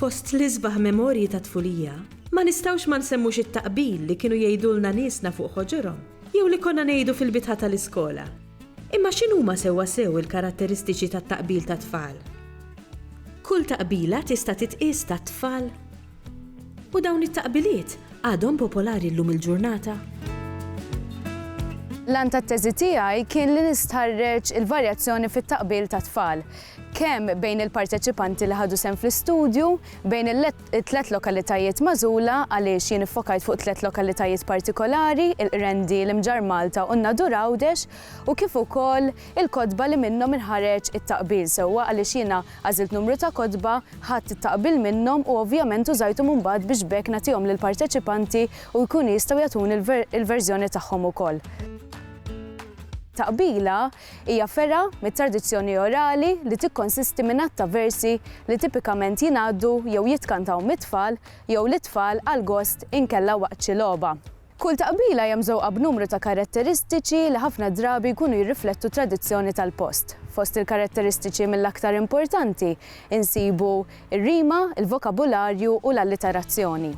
Fost l-isbaħ memorji ta' tfulija, ma nistawx ma nsemmux it-taqbil li kienu jgħidulna nisna fuq ħoġorhom, jew li konna ngħidu fil-bitħa tal-iskola. Imma x'inhuma sewwa sew il-karatteristiċi tat-taqbil tat-tfal? Kull taqbila tista' titqies tat-tfal? U dawn it-taqbiliet għadhom popolari llum il-ġurnata? L-għan tat-teżi tiegħi kien li nistħarreġ il-varjazzjoni fit-taqbil tat-tfal, kemm bejn il-parteċipanti li ħadu sehem fl-istudju, bejn it-tliet lokalitajiet magħżula għaliex jien iffokajt fuq tliet lokalitajiet partikolari, il-Qrendi, l-Imġarr Malta u n-Nadur Għawdex, u kif ukoll Il-kotba li minnhom inħareġ it-taqbil sewwa għaliex jiena għażilt numru ta' kotba, ħadt it-taqbil minnhom u ovvjament użajthom imbagħad biex b'hekk nagħtihom lill-parteċipanti u jkunu jistgħu jagħtuni l-verżjoni tagħhom ukoll. Taqbila hija fergħa mit-tradizzjoni orali li tikkonsisti minn għadd ta' versi li tipikament jingħaddu jew jitkantaw mit-tfal jew lit-tfal għall-gost inkella waqt xi logħba. Kull taqbila hija mżewqa b'numru ta' karatteristiċi li ħafna drabi jkunu jirriflettu t-tradizzjoni tal-post. Fost il-karatteristiċi mill-aktar importanti insibu r-rima, il-vokabularju u l-alliterazzjoni.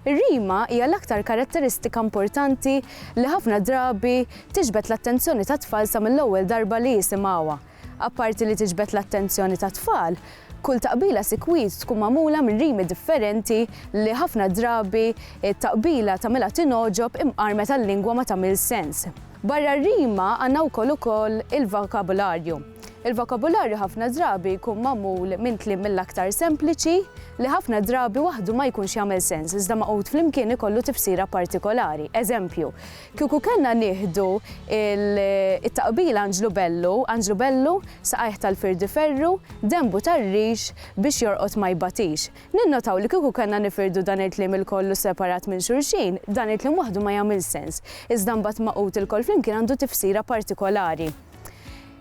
Ir-rima hija l-aktar karatteristika importanti li ħafna drabi tiġbed l-attenzjoni tat-tfal sa mill-ewwel darba li jisimgħuha, Apparti li tiġbed l-attenzjoni tat-tfal, kull taqbila sikwit tkun magħmula minn rimi differenti li ħafna drabi t-taqbila tagħmilha tingħoġob imqarmet għal-lingwa ma tagħmilx sens. Barra r-rima għandna wkoll ukoll il-vokabularju. Il-vokabularju ħafna drabi jkun magħmul minn kliem mill-aktar sempliċi li ħafna drabi waħdu ma jkunx jagħmel sens iżda magħqud flimkien ikollu tifsira partikolari. Eżempju, Kieku kellna nieħdu it-taqbila Anġlu Bellu, Anġlu Bellu, saqajh tal-firdi ferru, denbu tar-rix, biex jorqod ma jbatix. Ninnotaw li kieku kellna nifirdu dan il-kliem ilkollu separat minn xulxin, dan il-kliem waħdu ma jagħmilx sens, iżda mbagħad magħqud ilkoll flimkien għandu tifsira partikolari.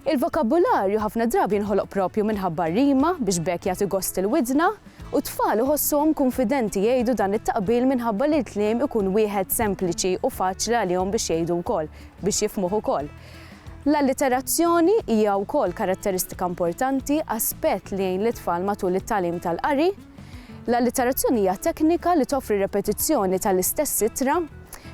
Il-vokabularju ħafna drabi jinħoloq proprju minħabba r-rima biex b'hekk jagħti gost il-widna, u t-tfal iħossuhom kunfidenti jgħidu dan it-taqbil minħabba li l-kliem ikun wieħed sempliċi u faċli għalihom biex jgħidu wkoll, biex jifhmuh ukoll. L-alliterazzjoni hija wkoll karatteristika importanti, aspett li jgħin lit-tfal matul it-tagħlim tal-qari. L-alliterazzjoni hija teknika li toffri repetizzjoni tal-istess ittra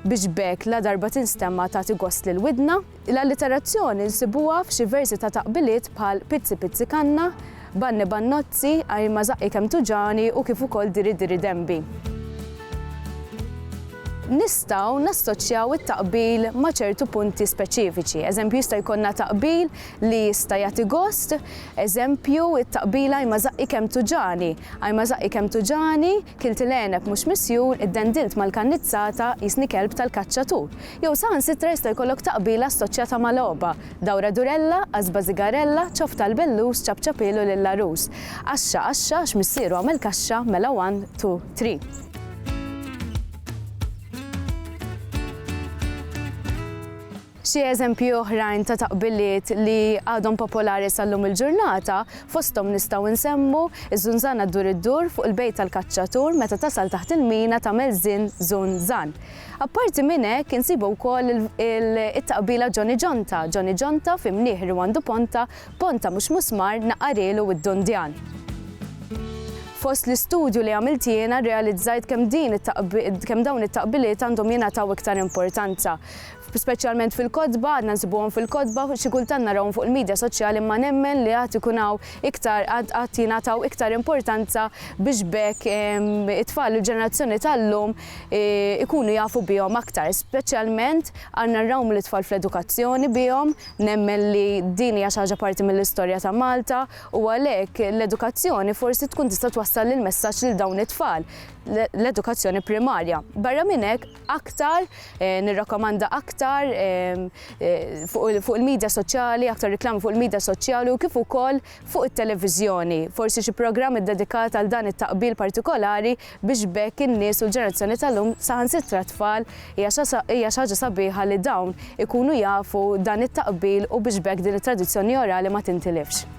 biex b'hekk ladarba tinstemma tagħti gost lill-widna. L-alliterazzjoni nsibuha f'xi versi ta' taqbiliet bħal Pizzi pizzi kanna, Banni bannozzi, Għajr ma żaqqi kemm tuġagħni u kif ukoll Diri diri denbi. Nistgħu nassoċjaw it-taqbil ma' ċertu punti speċifiċi. Eżempju, jista' jkollna taqbil li jista' jagħti gost, eżempju, it-taqbil Għajr ma żaqqi kemm tuġagħni, Għajr ma żaqqi kemm tuġagħni, Kilt il-għeneb mhux misjur, iddendilt mal-kannizzata, qisni kelb tal-kaċċatur. Jew saħansitra jista' jkollok taqbila assoċjata ma' logħba, dawra durella, għasba sigarella, ċof tal-bellus, ċapċapielu lill-għarus. Għaxxa, għaxxa, għax missieru għamel kaxxa, mela one, two, three. Xi eżempji oħrajn ta' taqbiliet li għadhom popolari sal-lum il-ġurnata, fosthom nistgħu nsemmu, Iż-żunżana ddur iddur fuq il-bejt tal-kaċċatur meta tasal taħt il-mina tagħmel żin żun żan. Apparti minn hekk insibu wkoll it-taqbila Ġoni Ġonta, Ġoni Ġonta fi mnih ri għandu ponta, ponta mhux musmar naqarilu id-dundjan. Fost l-istudju li għamilt jiena rrealizzajt kemm din kemm dawn it-taqbiliet għandhom jingħataw iktar importanza. Speċjalment fil-kotba, għadna nsibuhom fil-kotba, xi kultant narahom fuq il-midja soċjali imma nemmen li għad ikun hawn iktar, għad għad jingħataw iktar importanza biex b'hekk it-tfal u l-ġenerazzjoni tal-lum ikunu jafu bihom aktar. Speċjalment għandna nrawmu lit-tfal fl-edukazzjoni bihom, nemmen li din hija xi ħaġa parti mill-istorja ta' Malta u għalhekk l-edukazzjoni forsi tkun tista' twassal il-messaġġ lil dawn it-tfal, l-edukazzjoni primarja. Barra minn hekk, aktar, nirrakkomanda aktar fuq il-midja soċjali, aktar riklami fuq il-midja soċjali u kif ukoll fuq it-televiżjoni. Forsi xi programm iddedikat għal dan it-taqbil partikolari biex b'hekk in-nies u l-ġenerazzjoni tal-lum, saħansitra t-tfal, hija xi ħaġa sabiħa li dawn ikunu jafu dan it-taqbil u biex b'hekk din it-tradizzjoni orali ma tintilifx.